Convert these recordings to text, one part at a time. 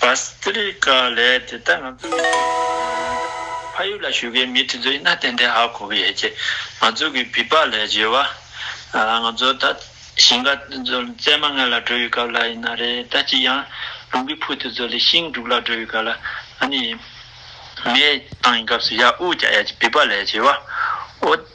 Bhastrika ལས་དེ་ལྟར་ང་ཚོ་གི་ཕ་ཡུལ་ལ་བཞུགས་མཁན་མི་དེ་ཚོ་ཡིན་ན་ཏན་ཏན་ཧ་གོ་གི་ཡོད་ཅེས་ང་ཚོ་གི་བི་བྷ་ལས་བརྗོད་པ། ང་ཚོ་ད་ཞིང་ཁ་བཙལ་མ་སྔ་ལ་འགྲོ་ཡི་སྐབས་ལ་ཡིན་ན་རེ་ད་ཅི་ཡང་ལུང་གི་ཕུ་དེ་ཚོ་ལས་ཤིང་དྲུག་ལ་འགྲོ་ཡི་སྐབས་ལ་ཨ་ནི་མེའི་ཐང་གི་སྐབས་སུ་ཡ་ཨུ་ཀྱ་ཡ་ཅེས་བི་བྷ་ལས་བརྗོད་པ།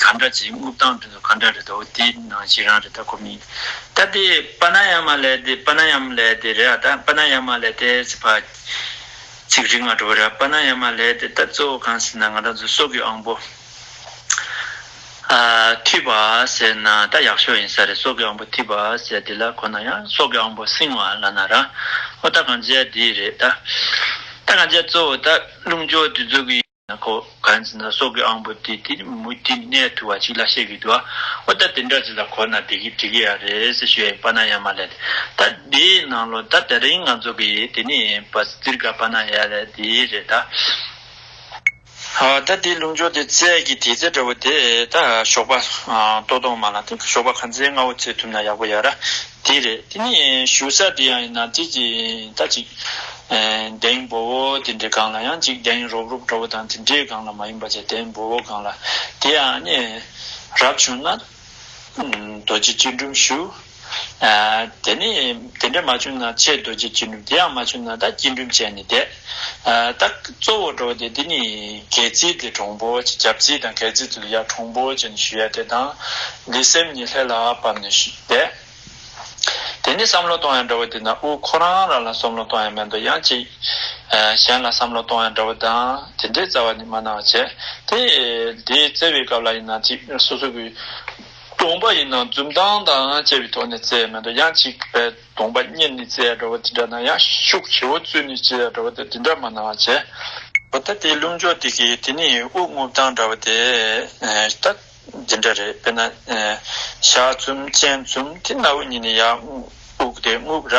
ག་འདྲ་བྱས་དངུལ་བཏང་དོན་དུ་ག་འདྲ་རེད་དོ་དེ་ནང་བཞིན་རང་རེད་ད་ཁོ་མིན་ད་དེ་པ་ན་ཡ་མ་ལེ་དེ་པ་ན་ཡ་མ་ལེ་དེ་རེད་ཨ་ད་པ་ན་ཡ་མ་ལེ་དེ་ཚིག་པ་ཚིག་རིག་མ་འགྲོ་བ་རེད་པ་ན་ཡ་མ་ལེ་དེ་ད་གཙོ་བོ་གང་ཟེར་ན་ང་རང་ཚོ་སྲོག་གི་ཨང་པོ་ཨ་འཐུས་པ་ཟེར་ན་ད་ཡག་ཤོས་ཡིན་ས་རེད་སྲོག་གི་ཨང་པོ་འཐུས་པ་ཟེར་དེ་ལ་ཁོ་ན་ཡ་སྲོག་གི་ཨང་པོ་སྲིང་བ་ལ་ན་ར་ཨོ་ད་གང་བྱས་དེ་རེད་ད་ད་གང་བྱས་གཙོ་བོ་ད་རླུང་སྦྱོར་དུས་ཚོད་ཀྱི། ན་ཁོ་གང་ཚེ་ན་སྲོག་གི་དབང་པོ་དེ་དེ་རིང་མུ་མཐུད་ནས་ཐུ་བ་གཅིག་ལ་ཤེས་གི་འདུག་ཨོ་ད་དེ་འདྲ་ཅིག་ལ་གོ་ན་དེ་གི་འགྲིག་གི་ཡ་རེད་ཟེར་ཞུ་ཡས་པ་ན་ཡ་མ་ལེ་ད་དེ་ནང་ལོ་ད་དེ་རིང་ང་ཚོ་གི་ཡས་དེ་ནས་པ་སི་ཙིར་ག་པ་ན་ཡ་ལེ་དེ་རེད་ད། ད་དེ་ལུག་མཆོག་དེ་ཚད་གི་དེ་ཚད་འདྲ་བོ་དེ་ད་ཞོགས་པ་ཏོག་ཏོག་མ་ལ་ཏེ་ཞོགས་པ་གང་ཚེ་ང་བོ་ཚེ་ཐུབ་ན་ཡག་པོ་ཡ་ར་དེ་རེད་དེ་ནས་ཞུ་ས་དེ་ཡང་ཡིན་ན་དེ་ཀྱི་ད་ཅིག་གདེང་འབོ་བོ་དེ་འདྲའི་སྒང་ལ་ཡང་ཅིག་གདེང་རོབ་རོབ་འདྲ་བོ་དང་དེ་འདྲའི་སྒང་ལ་མ་ཡིན་པ་ཅིག་གདེང་འབོ་བོ་སྒང་ལ་དེ་ཡང་ནས་རབ་བྱུང་ན་རྡོ་རྗེ་སྤྱི་འགྲུབ་ཞུ། དེ་ནས་དེ་འདྲ་མ་བྱུང་ན་ཆེ་རྡོ་རྗེ་སྤྱི་འགྲུབ་དེ་ཡང་མ་བྱུང་ན་ད་སྐྱིད་འགྲུབ་བྱས་ནས་བསྡད། རྟགས། གཙོ་བོ་འགྲོ་བ་སྟེ་འདི་ནི་གལ་ཚིག་གི་གྲོང་པོ་ཅི་གབ་ཚིག་དང་གལ་ཚིག་ཏུ་ལ་ཡ་གྲོང་པོ་ཅི་ནི་ཞུ་ཡ་དེ་དང། འདི་སེམས་ཉིད་ལྷས་ལ་བབས་ནས་བཟླས། དེ་ནི་བསམ་བློ་གཏོང་ཡ་འདྲ་བ་དེ་ན་དབུ་ཁོ་རང་རང་ལ་བསམ་བློ་གཏོང་ཡ་མེད་འདོ་ཡང་ཅིག། གཞན་ལ་བསམ་བློ་གཏོང་ཡ་འདྲ་བ་དང་དེ་འདྲའི་རྩ་བ་ནི་མ་གནང་བར་བྱས། དེ་དེ་བཙལ་བའི་སྐབས་ལ་ཡིན་ན་ཅིག་སོ་སོ་གི། སྟོང་པ་ཡིན་ན་འཛུམ་མདངས་དང་བཅས་པའི་ཐོག་ནས་བཙལ་ཡ་མེད་འདོ་ཡང་ཅིག། དགོངས་པ་གཉེར་ནི་རྩལ་འདྲ་བ་དེ་འདྲ་ན་ཡང་ཤུགས་ཆེའོ་བཙུན་ནི་རྩལ་འདྲ་བ་དེ་དེ་འདྲ་མ་ནའང་བྱེད། བུ་ད་དེའི་རླུང་སྦྱོར་དེ་གིས་དེ་ནི་དབུགས་རྔུབ་སྟངས་འདྲ་བ་དེ་ད་འདི་འདྲ་རེད་དཔེར་ན། ཞག་བཙུམ་སྤྱན་བཙུམ་དེ་སྣ་བུག་གཉིས་ནས་ཡར་དབུགས་དེ་རྔུབ་ར།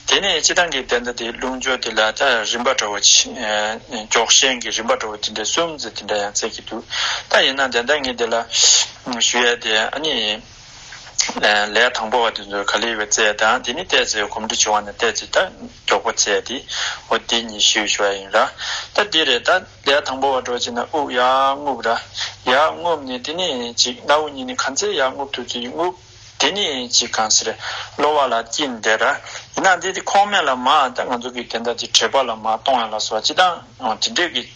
དེ་ནས་སྤྱི་བཏང་གི་བདེན་མཐའ་དེའི་རླུང་སྦྱོར་དེ་ལ་ད་རིམ་པ་འདྲ་བ། འགྱོགས་ཤན་གྱི་རིམ་པ་འདྲ་བ་དེ་འདྲའི་སུམ་བརྩེགས་དེ་འདྲ་ཡང་བརྩེགས་ཀྱི་འདུག་ད་ཡིན་ན་བདེན་མཐའ་ངས་དེ་ལ་ཞུ་ཡ་དེ་ཨ་ནི། ལས་དང་པོ་བ་དེ་ཚོར་ག་ལེ་བའི་རྩལ་དང་དེ་ནི་བལྟས་ཚེ་གོམས་འདྲིས་བྱུང་བ་ན་བལྟས་ཚེ་ད་མགྱོགས་པོ་ཚད་དེ་འོ་དེ་ཉིད་ཞུས་ཞུ་བ་ཡིན་ར་ད་དེ་རེད་ད་ལས་དང་པོ་བ་འགྲོ་བྱེད་ན་དབུགས་ཡག་རྔུབ་ར་ཡག་རྔུབ་ནས་དེ་ནས་ཅིག་སྣ་བུག་གཉིས་ནས་གང་ཚད་ཡག་རྔུབ་ཐུབ་ཚུལ་རྔུབ་དེ་ནས་ཅིག་གང་ཟེར་གློ་བ་ལ་དཀྱིལ་འདེད་ར་ཡིན་ན་དེ་དེ་ཁོང་མེད་ལ་མ་ད་ང་ཚོ་གི་དེ་ད་དེ་བྲེད་པ་ལ་མ་གཏོང་ཡ་ལ་སོ་ཅི་ད་དེ་འདྲས་ཀྱི།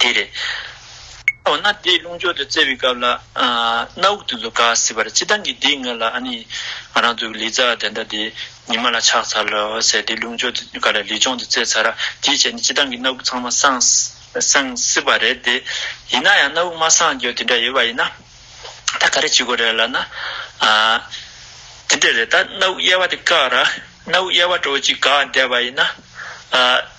དེ་རེད། འོ་ན་དེ་རླུང་སྦྱོར་དུ་བཙལ་བའི་སྐབས་ལ། སྣ་དབུགས་དུ་ལུ་ག་སྲིད་པར་ཅི་སྟངས་ཀྱིས་དེའི་ངོས་ལ་ཨ་ནི། ང་རང་ཚོའི་ལི་ཙཱ་དེ་འདྲ་དེ་ཉི་མ་ལ་ཆགས་ཚར་ལ་ཟེར་དེ་རླུང་སྦྱོར་དུ་ག་ལ་ལུས་སྦྱོང་དུ་བཙལ་ཚར་ར་དེའི་རྗེས་ནས་ཅི་སྟངས་ཀྱིས་སྣ་དབུགས་ཚང་མ་སངས། སངས་སྲིད་པ་རེད་དེ། ཡིན་ན་ཡང་སྣ་དབུགས་མ་སངས་རྒྱུ་དེ་འདྲ་ཡོད་པ་ཡིན་ན། ད་ག་རེ་བྱེད་དགོས་རེད་ལབ་ན། དེ་འདྲ་རེད་ད་སྣ་དབུགས་དབྱེ་བ་དེ་བཀག་ར་སྣ་དབུགས་དབྱེ་བ་དྲོ་གཅིག་ག་བསྡད་པ་ཡིན་ན།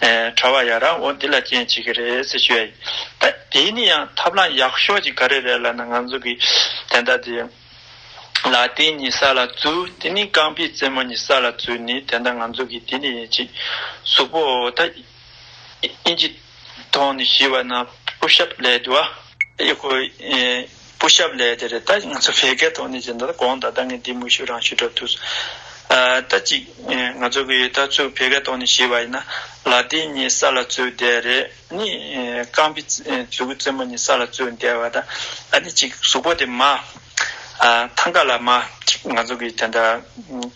གྲྭ་བ་ཡ་རང་འོ་འདི་ལ་རྐྱེན་བྱེད་ཀྱི་རེད་ཟེར་ཞུ་ཡ་ཡིན། ད་དེ་ནི་ཡང་ཐབས་ལམ་ཡག་ཤོས་ཅིག་ག་རེ་རེད་ལབ་ན་ང་ཚོ་གི་དན་ད་དེ། ལ་ཏིང་ནི་ས་ལ་བཙུ་དེ་ནི་རྐང་པའི་རྩེ་མོ་ནི་ས་ལ་བཙུ་ནི་དན་ད་ང་ཚོ་གི་དེ་ནི་ཡིན་ཅིག་གཟུགས་པོ་འོ་ད་དབྱིན་ཇི་ཐོང་ནི་ཞི་བ་ན་པུ་ཤབ་ལས་དུ་བ། ཡག་པོ་ཡིན། སྐུ་ཞབས་ལས་དེ་རེད་ད་ང་ཚོ་བལ་སྐད་ཐོག་ནས་བྱེད་འདོད་ད་དགོངས་དག་ད་ངས་འདི་མུ་ཤུ་རང་ཤུ་འདྲ་ཐུགས། ད་གཅིག་ང་ཚོ་གི་ད་ཚུགས་བལ་སྐད་ཐོག་ནས་ཞིག་བ་ཡིན་ན་ལ་དེ་གཉིས་ས་ལ་ཚུགས་བསྡད་རེད་ནི་རྐང་པི་ཛུ་གུ་ཙེ་མོ་གཉིས་ས་ལ་ཚུགས་བསྡད་བ་ད་ཨ་ནི་གཅིག་གཟུགས་པོ་དེ་མ་ཐང་ཀ་ལ་མ་གཅིག་ང་ཚོ་གི་དེ་འདྲ་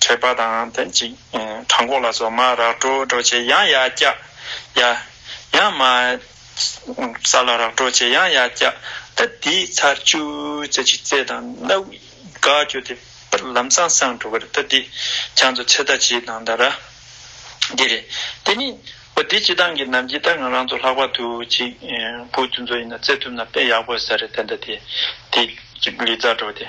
ཁྲེག་པ་དང་དེ་གཅིག་བྲང་ཁོག་ལ་སོགས་མ་རག་དྲོ་དྲོ་བྱེད་ཡང་ཡ་སྐྱག་ཡ་ཡང་མ། ས་ལ་རག་གྲོག་བྱེད་ཡང་ཡར་བཀྱག། ད་དེའི་ཚར་བཅུ་རྩེ་གཅིག་རྩེ་དང་སྣ་དབུས་དགག་བསྐྱུར་ཏེ། པར་ལམ་སང་སང་འགྲོ་གར་ད་དེ། བྱང་དུ་ཚེ་ད་ཇི་དང་ད་ར། འདི་རེད། དེ་མིན། འོ་དེ་སྤྱི་སྟངས་ཀྱི་ནམ་འཆི་ད་ང་རང་ཚོ་ལྷག་པར་དུ་ཅིག། བུ་དེ་ཚོ་ཡིན་ན་བརྩེ་ཐུབ་ན་དཔེ་ཡག་པོ་ཟེར་རེད་དེ་འདྲ་དེ། དེ། ལི་ཛར་གྲོག་དེ།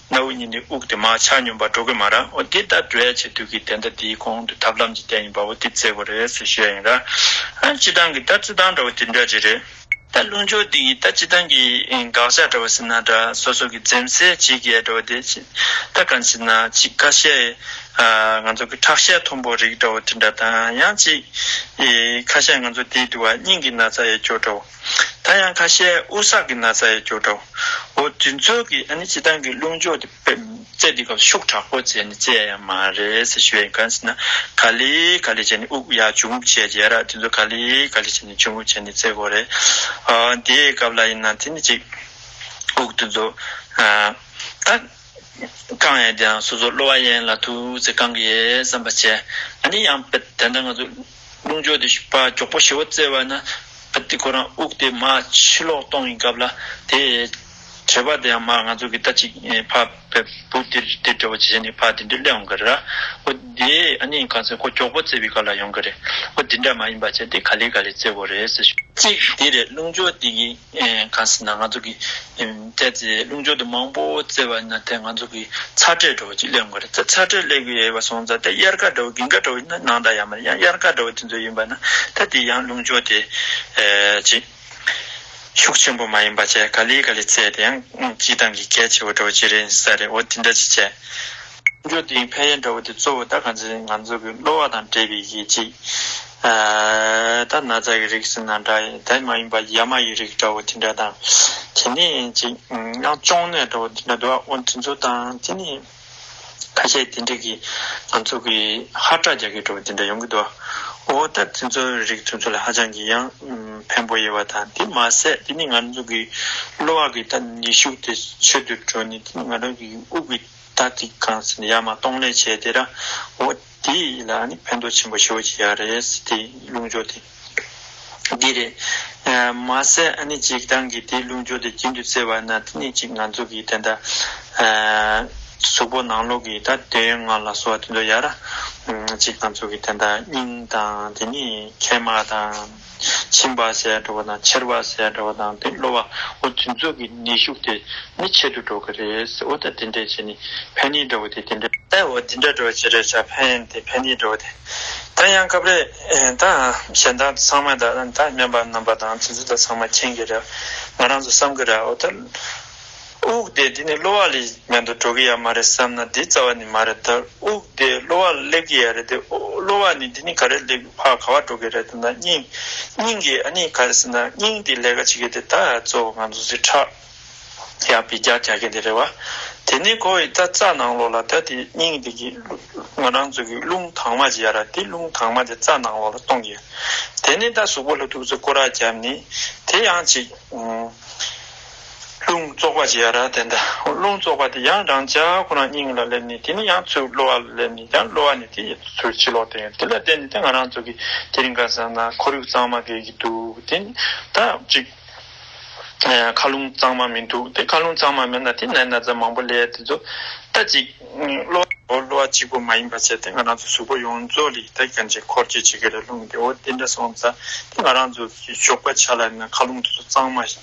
གནའ་བོའི་གཉིས་འདི་དབུགས་དེ་མ་ཆགས་སྙོམས་པར་འགྲོ་གི་མ་རང་འོ་དེ་ལྟར་འགྲོ་ཡ་ཆེ་དུས་ཀྱི་དེ་འདྲ་དེའི་གོང་དུ་ཐབས་ལམ་གྱི་རྟེན་ཡིན་པ་འོ་དེ་བརྩེགས་པ་རེད་ཟེར་བཤད་ཡིན་ར། སྤྱི་སྟངས་ཀྱི་ལྟ་ཚུལ་སྟངས་འདྲ་བོ་དེ་འདྲ་རེད་རེད། ད་རླུང་སྦྱོར་འདི་ཡིས་ད་སྤྱི་སྟངས་ཀྱི་དགག་བྱ་འདྲ་བོ་ཟེར་ན་འདྲ་སོ་སོ་གི་འཛེམ་ཟེ་བྱེད་ཀྱི་ཡ་འདྲ་བོ་དེ་ད་གང་ཅི་ན་ཅིག་ཀ་ཤའི་ང་ཚོ་གི་ཁྲག་ཤའི་མཐོན་པོ་རིགས་འདྲ་བོ་དེ་འདྲ་དང་ཡང་ཅིག་ཁ་ཤས་ང་ཚོ་དེའི་དུ་བ་སྙིང་གི་ན་ཚ་ཡས་སྐྱོ་འདྲ་བོ། ད་ཡང་ཁ་ཤས་ཨུ་ས་ཀི་ན་ཚ་ཡི་སྐྱོ་གྲོགས་འོ་དེ་ཚོ་གིས་ཨ་ནི་བྱེ་ཐང་གི་རླུང་སྦྱོར་དེ་བཙལ་དུས་སྐབས་ཤུགས་དྲག་པོ་བཙལ་ནས་བཙལ་ཡ་མ་རེད་ཟེར་ཞུ་ཡ་ཡིན་གང་ཟེར་ན་ག་ལི་ག་ལི་བྱས་ནས་དབུགས་ཡ་ཇུ་འབུབ་བྱས་ཡ་རག་དེ་ཚོ་ག་ལི་ག་ལི་བྱས་ནས་ཇུ་འབུབ་བྱས་ནས་བཙལ་དགོས་རེད་ཨོ་དེའི་སྐབས་ལ་ཡིན་ན་དེ་ནི་གཅིག་དབུགས་དེ་ཚོ་ད། བསྐང་ཡས་དེའང་སོ་སོར་གློ་བ་ཡན་ལ་དུ་ཚེ་བསྐང་གི་ཡས་བསམ་པ་བྱས། ནི་ཡང་བད་དེ་ན་ང་ཚོ་རླུང་སྦྱོར་དེ་བཞི་པ་མགྱོགས་པོ་ཞི་བ་བཙལ་བ་ན། བད་དེ་ཁོ་རང་དབུགས་དེ་མ་ཕྱི་ལོག་གཏོང་གི་སྐབས་ལ་དེ། བྱེད་པ་དེའང་མར་ང་ཚོ་གི་ལྟ་ཅིག་ཕ་བད་བུ་དེ་དེ་སྦྱོར་བ་ཇི་བྱས་ནས་ཕ་དེ་འདྲའི་སླད་འོང་གི་རེད་ར། ཨོ་དེ་ནི་གང་ཚེ་ཁོ་མགྱོགས་པོ་བཙལ་བའི་སྐབས་ལ་ཡོང་གི་རེད། ཨོ་དེ་འདྲ་མ་ཡིན་པ་བྱས་དེ་ག་ལེ་ག་ལེ་བཙལ་བོ་རེད། ཅིག་དེ་རེད་རླུང་སྦྱོར་དེ་གིས་གང་ཟེར་ན་ང་ཚོ་གི་དེ་ཚེ་རླུང་སྦྱོར་དུ་མང་པོ་བརྩེ་བ་ན་དེ་ང་ཚོ་གི་ཚ་དྲོད་དྲོ་བོ་ཅིག་སླེབས་དགོས་རེད་ཚ་ཚ་དྲོད་སླེབས་གི་ཡོད་པ་སོང་ཙང་དེ་དབྱར་ཁ་དྲོ་བོ་གིང་ཁ་དྲོ་བོ་ནང་དང་ཡང་མ་རེད་ཡང་དབྱར་ཁ་དྲོ་བོ་དེ་ཚོ་ཡིན་པ་ན་ད་དེ་ཡང་རླུང་སྦྱོར་དེ་ཅིག་ཤུགས་ཆེན་པོ་མ་ཡིན་པ་བཅས་ག་ལི་ག་ལི་བརྩེས་དེ་ཡང་སྤྱི་བཏང་གི་གལ་ཆེ་བོ་དྲོ་བོ་ཅིག་རེད་ས་རེད་འོ་དེ་འདྲ་ཅིག་བྱས། འཇོག་དེ་ཡིན་ཕན་ཡོན་འདྲ་བོ་དེ་གཙོ་བོ་ད་ག་ཚོད་ཡིན་ང་ཚོ་གི་གློ་བ་དང་བྲལ་བའི་གཞི་གཅིག་ད་ན་ཚ་གི་རིགས་ཟེར་ན་འདྲ་ཡིན་དེ་མ་ཡིན་པ་ཡ་མ་ཡི་རིགས་འདྲ་བོ་དེ་འདྲ་དང་དེ་ནས་ཅིག་ཡང་གཅོང་ནད་འདྲ་བོ་དེ་འདྲ་འདུག་ཨ་འོ་དེ་ཚོ་དང་དེ་ནས་ཁ་ཤས་དེ་འདྲ་གི་ང་ཚོ་གི་ཧ་སྐྲག་རྒྱག་གི་འདྲ་བོ་དེ་འདྲ་ཡོང་གི་འདུག་ཨོ་ད་དེ་ཚོ་རིགས་དེ་ཚོ་ལ་ཧ་ཅང་གི་ཡང་ཕན་པོ་ཡོད་པ་དང་དེ་མ་ཟད་དེ་ནས་ང་ཚོ་གི་གློ་བ་གི་ད་ནུས་ཤུགས་དེ་ཆོད་དུ་འགྲོ་ནས་དེ་ནས་ང་རང་གི་དབུགས་ཀྱི། ད་ཅིག་གང་ཚེ་ཡ་མ་གཏོང་ལས་བྱེད་དེ་ར་འོ་དེ་ལ་ནི་ཕན་ཐོགས་ཆེན་པོ་ཞུ་བ་ཅི་ཡ་རེད་དེ་རླུང་སྦྱོར་དེ་འདི་རེད། མ་ཟད་ཨ་ནི་ཅིག་ཏང་གིས་དེ་རླུང་སྦྱོར་དེ་རྒྱུན་དུ་བཙལ་བ་ན་དེ་ནས་ཅིག་ང་ཚོ་གིས་དེ་འདྲ་གཟུགས་པོ་ནང་ལོག་གི་ད་དོན་ཡོད་ང་ལ་གསོ་བ་དེ་ཚོ་ཡ་ར་ཅིག་ང་ཚོ་གིས་དེ་འདྲ་སྙིང་དང་དེ་ནས་མཁལ་མ་དང། ཕྱིན་པ་ཟད་འགྲོ་བ་དང་ཕྱིར་བ་ཟད་འགྲོ་བ་དང་དེ་གློ་བ་འོ་དེ་ཚོ་གི་ནད་ཞུགས་དེ་ནི་ཆེད་དུ་འགྲོ་གི་རེད་འོ་ད་དེ་འདྲས་བྱས་ནས་ཕན་ནི་འགྲོ་གི་དེ་དེ་འདྲས། ཨེ་འོ་དེ་འདྲས་འགྲོ་བྱས་རེད་ཆ་ཕན་དེ་ཕན་ནི་འགྲོ་གི་དེ། ད་ཡང་སྐབས་རེ་ད་གཞན་དག་ཚང་མ་དག་ད་སྨན་པ་རྣམ་པ་དང་དེ་ཚོ་དག་ཚང་མ་མཁྱེན་གི་རེད་ང་རང་ཚོ་བསམ་གི་རེད་འོ་ད། དབུགས་བདེ་འདི་ནི་གློ་བ་ལས་ཉམས་དུ་འགྲོ་གི་ཡ་མ་རེད་བསམ་ན་འདི་རྩ་བ་ནི་མ་རེད་ད་དབུགས་བདེ་གློ་བ་སླེབས་ཀྱི་ཡ་རེད་དེ་གློ་བ་ནི་འདི་ནི་ག་རེ་སླེབས་ཧ་ག་བ་འགྲོ་གི་རེད་ད་ན་སྙིང་སྙིང་གི་ཨ་ནི་ག་རེ་ཟེར་ན་སྙིང་འདི་ལས་ཀ་བྱེད་ཀྱི་འདི་ད་གཙོ་བོ་ང་ཚོ་ཚེ་ཁྲག་ཡག་པའི་རྒྱག་རྒྱག་གི་འདི་རེད་བ་དེ་ནི་ཁོ་བོའི་ད་རྩ་ནང་ལོགས་ལ་ད་དེ་སྙིང་འདི་གི་ང་རང་ཚོ་གི་རླུང་དྭངས་མ་ཇི་ཡ་ར་དེ་རླུང་དྭངས་མ་དེ་རྩ་ནང་ལོགས་ལ་གཏོང་གི་ཡ་དེ་ནི་ད་གཟུགས་པོ་ལྷུ་ཐུག་ཚོ་ཀོ་ར་རྒྱབ་ནི་དེ་ཡང་ཅིག། རླུང་བཙོག་པ་ཇི་ཡ་ར་དེ་འདྲ་རླུང་བཙོག་པ་དེ་ཡང་རང་ཅག་ཁོ་རང་སྙིང་ལ་སླེབས་ནས་དེ་ནི་ཡང་ཚུར་གློ་བ་ལ་སླེབས་ནས་ཀྱང་གློ་བ་ནི་དེ་ཡི་ཚུར་ཕྱི་ལོག་བསྟན་ཡོད་དེ་ལ་བརྟེན་ནས་ད་ང་རང་ཚོ་གི་དེ་རིང་ག་ཟེར་ན་ཁོར་ཡུག་གཙང་མ་དགེ་གི་འདུག་དེ་ད་ཅིག་མཁའ་རླུང་གཙང་མ་མི་འདུག་དེ་མཁའ་རླུང་གཙང་མ་མེད་ན་དེ་ནས་ན་ཚ་མང་པོ་ལས་དེ་ཚོ་ད་ཅིག་གློ་བ་འོ་གློ་བ་གཅིག་པོ་མ་ཡིན་པ་བྱས་ཏེ་ང་རང་ཚོ་གཟུགས་པོ་ཡོངས་རྫོགས་ལ་ཡི་ད་གྱོན་ཅིག་འཁོར་སྐྱོད་བྱེད་ཀྱི་རེད་རླུང་དེ་འོ་དེ་འདྲ་སོང་ཙང་དེ་ང་རང་ཚོ་གི་ཞོགས་པ་ཆ་ལ་ན་མཁའ་རླུང་དེ་ཚོ་གཙང་མ་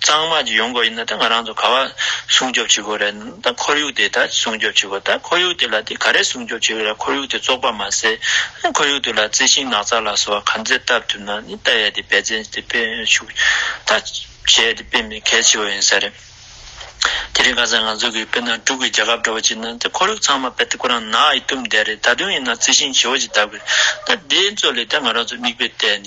གཙང་མ་གཅིག་ཡོང་དགོས་ཡིན་ན་ད་ང་རང་ཚོ་ག་བ་སྲུང་སྐྱོབ་བྱེད་དགོས་རེད་ན་ད་ཁོར་ཡུག་དེ་ད་སྲུང་སྐྱོབ་བྱེད་དགོས་ད་ཁོར་ཡུག་དེ་ལ་དེ་ག་རེ་སྲུང་སྐྱོབ་བྱེད་དགོས་རེད་ཁོར་ཡུག་དེ་བཙོག་པ་མ་ཟད་ད་ཁོར་ཡུག་དེ་ལ་རྩི་ཤིང་ནགས་ཚལ་ལ་སོགས་བ་ག་ཚད་བཏབ་ཐུབ་ན་ནི་ད་ཡས་དེ་འབད་བརྩོན་དེ་སྤེལ་ཤུགས་ད་བྱས་དེ་སྤེལ་མི་གལ་ཆེ་བོ་ཡིན་ས་རེད། དེ་རིང་ག་ཚད་ང་ཚོ་གིས་དཔེར་ན་འབྲུག་གི་རྒྱལ་ཁབ་འདྲ་བོ་ཅིག་ན་ད་ཁོར་ཡུག་ཚང་མ་སྤེལ་ཏེ་ཁོ་རང་ནགས་ཡིས་བཏུམས་བསྡད་རེད་ད་དུང་ཡིན་ན་རྩི་ཤིང་བྱེ་བོ་ཅིག་བཏབ་དགོས་རེད་ད་དེ་ཚོ་ལས་ད་ང་རང་ཚོ་མིག་དཔེ་བལྟས་ནས།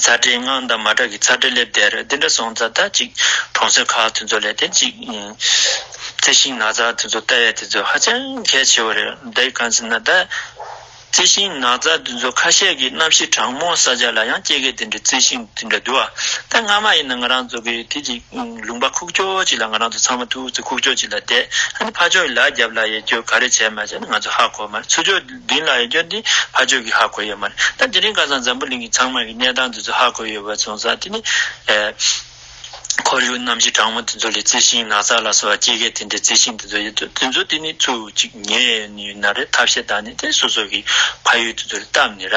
ཚ་དྲེག་སྔགས་འདབ་མ་དྲག་གི་ཚ་དྲེག་ལེབ་སྡེར་འདི་འདྲ་སོང་ཙག་ད་ཅིག་གྲོང་གསེབ་ཁག་དེ་ཚོ་ལས་དེ་ཅིག་ཡིན། རྩི་ཤིང་ནག་ཙག་དེ་ཚོ་ལྟ་བས་དེ་ཚོ་ཧ་ཅང་གལ་ཆེ་བ་རེད་འདི་གང་ཟེར་ན་ད། རྩི་ཤིང་ནག་ཙག་དེ་ཚོ་ཁ་ཤས་ཀྱི་གནམ་གཤིས་གྲང་མོ་ས་ཆ་ལ་ཡང་སྐྱེ་གི་དེ་འདྲའི་རྩི་ཤིང་དེ་འདྲ་འདུ་བ་ད་སྔ་མ་ཡིན་ན་ང་རང་ཚོ་གི་དེ་ཅིག་ལུང་པ་ཁུག་ཀྱོག་ཅིག་ལ་ང་རང་ཚོ་ཚང་མ་ཐུགས་རྩེ་ཁུག་ཀྱོག་ཅིག་ལ་བསྡད་ཧ་ནི་ཕ་ཕྱོགས་ཀྱི་ལག་རྒྱབ་ལ་ཡེ་རྒྱུ་ག་རེ་བྱས་མ་བྱས་ནི་ང་ཚོ་ཧ་གོ་མ་རེད་ཚུར་ཕྱོགས། བདུན་ལ་ཡི་སྐྱོར་འདི་ཕ་ཆོས་ཀྱིས་ཧ་གོ་ཡོད་མ་རེད་ད་དེ་རིང་ཁ་སང་འཛམ་བུ་གླིང་གི་ཚང་མ་གི་གནས་སྟངས་འདི་ཚོ་ཧ་གོ་ཡོད་པ་བྱུང་ཙང་དེ་ནི། ཁོར་ཡུག་གནམ་གཤིས་གྲང་མོ་དེ་ཚོ་ལས་རྩི་ཤིང་ནགས་ཚལ་ལ་སོགས་སྐྱེ་རྒས་དེ་འདྲའི་རྩི་ཤིང་དེ་ཚོ་ཡོད་དུས་དེ་ཚོ་དེ་ནི་ཚུར་ཅིག་ཉལ་ནས་ཡོད་ན་རེད་ཐབས་ཤེས་དང་ནི་དེ་སོ་སོ་གི་ཕ་ཡུལ་དེ་ཚོ་རེད་སྟབས་ནི་ར་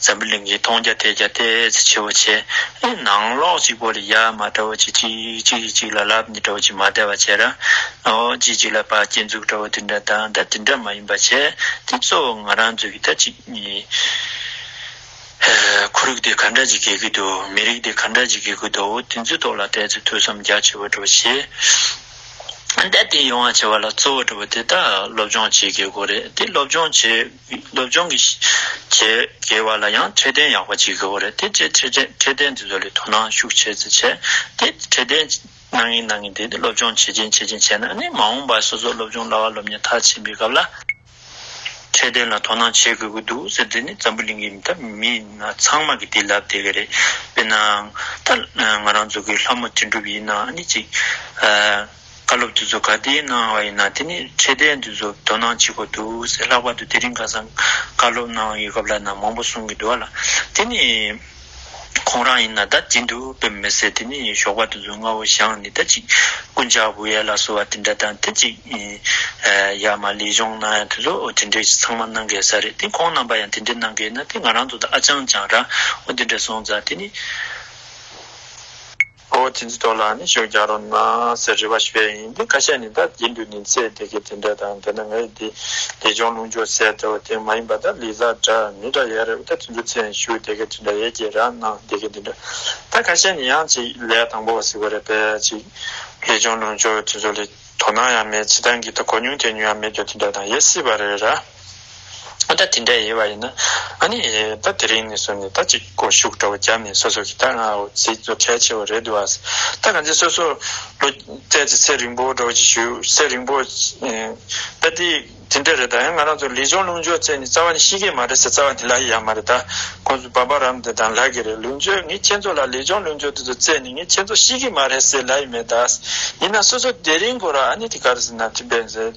འཛམ་བུ་གླིང་གི་མཐོང་རྒྱ་ཐོས་རྒྱ་བལྟས་ཚེ་ཆེ་བོ་ཆེ། ནང་ལོགས་གཅིག་པོ་ལ་ཡ་མ་བཀྲ་བོ་ཆེ་གཅིག་གཅིག་གིས་གཅིག་ལ་ལབ་ནས་བཀྲ་བོ་ཆེ་མ་བལྟ་བ་བྱས་ར། ཨོ་གཅིག་གཅིག་ལ་བག་སྐྱེད་འཛུགས་བཀྲ་བོ་དེ་འདྲ་དང་ད་དེ་འདྲ་མ་ཡིན་པ་བྱས་དེ་གཙོ་བོ་ང་རང་ཚོ་གི་ད་གཅིག་གཉིས། ཁོར་ཡུག་དེ་ག་འདྲ་ཅིག་གེ་གི་འདུག་མི་རིགས་དེ་ག་འདྲ་ཅིག་གེ་གི་འདུག་འོ་དེ་ཚོའི་ཐོག་ལ་བལྟས་ཚེ་ཐོས་བསམ་རྒྱ་ཆེ་བོ་བཀྲ་བོ་ཆེ། ད་དེ་ཡོང་བ་བྱས་བ་ལ་གཙོ་བོ་བཀྲ་བོ་དེ་ད་སློབ་སྦྱོང་བྱེད་དགོས་རེད་དེ་སློབ་སྦྱོང་བྱེད། སློབ་སྦྱོང་གི་བྱེད་དགེ་བ་ལ་ཡང་ཁྲིད་སྟོན་ཡག་པ་བྱེད་དགོས་རེད་དེ་རྗེས་ཁྲིད་ཁྲིད་སྟོན་དེ་ཚོ་ལས་དོ་སྣང་ཤུགས་ཆེ་ཚེ་བྱས་ཏེ་ཁྲིད་སྟོན་གནང་གིན་གནང་གིན་དེ་སློབ་སྦྱོང་བྱེད་ཀྱིན་བྱེད་ཀྱིན་བྱས་ན་ནི་མ་འོངས་པར་སོ་སོ་སློབ་སྦྱོང་སླ་བ་སློབ་གཉེར་མཐར་ཕྱིན་པའི་སྐབས་ལ་ཁྲིད་སྟོན་ལ་དོ་སྣང་བྱེད་དགོས་ཀྱི་འདུག་ཟེར་དེ་ནི་འཛམ་བུ་གླིང་གི་མི་ཐབས་མི་སྣ་ཚང་མ་གི་དེ་ལབ་བསྡད་ཀྱི་རེད་དཔེར་ན་ད་ང་རང་ཚོ་གི་ལྷ་མོ་དྲིན་གྲུབ་ཡིན་ན་ནི་ཅིག་བཀའ་སློབ་དེ་ཚོ་ག་དེའི་གནང་བ་ཡིན་ན་དེ་ནི་འཕྲལ་བསྟན་དེ་ཚོ་དོ་སྣང་བྱེད་དགོས་འདུག་ཟེར་ལྷག་པར་དུ་དེ་རིང་ཁ་སང་བཀའ་སློབ་གནང་ཡོད་སྐབས་ལ་ནང་མང་པོ་གསུང་གི་འདུག་ལ་དེ་ནི་ཁོང་རང་ཡིན་ན་ད་དེ་འདུག་བེད་མི་སྲིད་དེ་ནི་ཞོགས་པ་དེ་ཚོ་རྔ་བོ་ཞང་ནི་ད་ཅིག་རྐུན་ཇག་བུ་ཡལ་ལ་གསོལ་བ་དེ་འདྲ་དང་དེ་ཅིག་ཡག་མ་ལས་གཞུང་གནང་ཡང་དེ་ཚོ་དེ་འདྲས་ཚང་མ་གནང་དགོས་ས་རེད་དེ་ཁོང་རྣམ་པ་ཡང་དེ་འདྲས་གནང་དགོས་ན་དེ་ང་རང་ཚོ་ད་ཨ་ཅང་ཅང་ར་བོ་དེ་འདྲས་སོང་ཙང་དེ་ནི། ཨོ་དེ་ཚོའི་ཐོག་ལ་ནི་ཤུགས་རྒྱག་རོགས་གནང་ཟེར་རེ་བ་ཞིག་བས་ཡིན་འདུག་ཁ་ཤས་ནི་ད་དེ་འདུག་ནི་ཚེ་འདི་གི་དེ་འདྲ་དང་དེ་ན་ང་ཡི་དེ་དེ་ཅོང་རླུང་ཅོ་ཟེར་དེ་བ་དེ་མ་ཡིན་པ་ད་ལི་ཟ་འདྲ་མི་འདྲ་ཡས་རེད་ད་དེ་ཚོའི་ཚེ་ཡང་ཤུགས་དེ་གི་དེ་འདྲ་ཡས་ཀྱི་ར་གནང་དེ་གི་དེ་འདྲ་ད་ཁ་ཤས་ནི་ཡང་ཅིག་ལས་དང་པོ་བ་ཟིག་བ་རེད་པས་ཅིག་ལི་ཅོང་རླུང་ཅོ་དེ་ཚོ་ལི་དོ་སྣང་ཡང་མེད་བྱེད་སྟངས་གི་ད་གོ་མྱོང་ཐོས་མྱོང་ཡང་མེད་རྒྱོ་དེ་འདྲ་དང་ཡས་སྲིད་པ་རེད་ར། ད་དེ་འདྲ་ཡིན་བ་ཡིན་ན་ཨ་ནི་ད་དེ་རིང་ནས་བཟུང་ནས་ད་ཅིག་སྐོར་ཞུགས་འདྲ་བོ་བརྒྱབ་ནས་སོ་སོ་གི་ད་ང་འོ་ཟིག་ཚོ་གལ་ཆེ་བོ་རེད་འདུག་ཨ་ད་ག་ཚད་སོ་སོ་ལོ་ཙས་ཙི་ཚེ་རིང་པོ་འགྲོ་བ་ཅིག་ཞུ་ཚེ་རིང་པོ་ད་དེ་དེ་འདྲ་རེད་ད་ཡང་ང་རང་ཚོ་ལི་ཆོང་ལུང་ཆོས་ཚེ་ནི་རྩ་བ་ནི་ཤི་གི་མ་རེད་ཟེར་རྩ་བ་ནི་ལ་ཡི་ཡང་མ་རེད་ད་ཁོང་ཚོ་བ་པ་རམ་དེ་དང་ལ་གི་རེད་ལུང་ཆོས་ངའི་ཁྱེད་ཚོ་ལ་ལི་ཆོང་ལུང་ཆོས་དེ་ཚོ་ཚེ་ནི་ངའི་ཁྱེད་ཚོ་ཤི་གི་མ་རེད་ཟེར་ལ་ཡི་མེད་ད་ཡིན་ན་སོ་སོ་དེ་རིང་སྐོར་ཨ་ནི་དེ་ག་རེ་ཟེར་ན་དེ་བས་ཟེར།